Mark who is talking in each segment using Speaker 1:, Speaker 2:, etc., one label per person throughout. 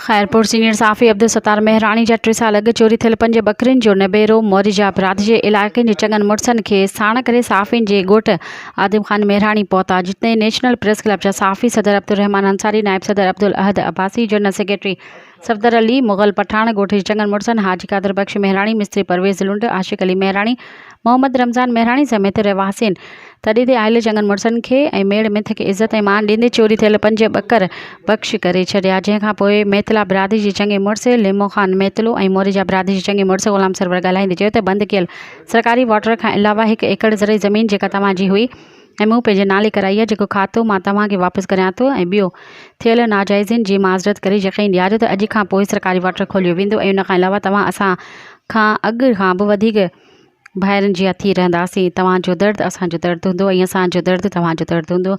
Speaker 1: Khairpur, senior صحافي عبدالستار مهراڻي جا ٽي سال اڳ چوري ٿيل پنج ٻڪرين جو نبيرو موريجا پرات جي علائقن جي چڱن مڙسن کي ساڻ ڪري صحافين جي ڳوٺ عادم خان مهراڻي پهتا جتي نيشنل پريس ڪلب جا صحافي صدر عبدالرحمان انصاري نائب صدر عبدالاحد عباسي جنرل سيڪريٽري صفدر علي مغل پٺاڻ، ڳوٺ جي چڱن مڙسن حاجي قادر بخش مهراڻي، مستري پرويز لنڊ، عاشق علي مهراڻي، محمد رمضان مهراڻي سميت رهواسين تڏي تي آيل چڱن مڙسن کي ۽ ميڙ مٿ کي عزت ۽ مان ڏيندي چوري ٿيل پنج ٻڪر بخش ڪري ڇڏيا، جنهن کان پوء ميتلا برادري جي چڱي مڙس ليمو خان ميتلو ۽ موريجا برادري جي چڱي مڙس غلام سرور ڳالهائيندي چيو ته بند ڪيل سرڪاري واٽر کان علاوه هڪ ايڪڙ زرعي زمين جيڪا توهان جي هئي، ۽ مون پنهنجي نالي ڪرائي آهي جيڪو کاتو مان توهان کي واپس ڪريان ٿو ۽ ٻيو ٿيل ناجائزين جي معذرت ڪري يقين ڏياريو ته اڄ کان پوء سرڪاري واٽر کوليو ويندو ۽ ان کان علاوه توهان اسان کان اڳ کان به وڌيڪ ڀائرن جيان ٿي رهنداسين توهان جو درد اسان جو درد هوندو ۽ اسان جو درد توهان جو درد هوندو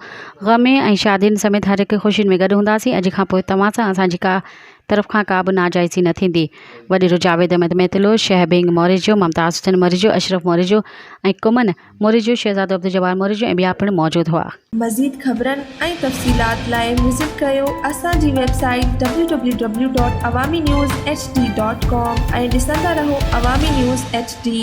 Speaker 1: غم ۾ ۽ شادين سميت هر هڪ خوشين ۾ گڏ هونداسين اڄ کان پوء توهان سان اسان جي ڪا طرف کان ڪا به ناجائزي نه ٿيندي وڏيرو جاويد احمد ميتلو شهه بينگ موريجو ممتاز حسين موريجو اشرف موريجو ۽ ڪمن موري جو شهزادو عبدالجبار موري جو ۽ ٻيا پڻ موجود هئا. مزيد خبرن
Speaker 2: ۽ تفصيلات لاء وزٽ ڪريو اسان جي web site www.awaminews. hd. com ۽ ڏسندا رهو عوامي نيوز ايڇ ڊي.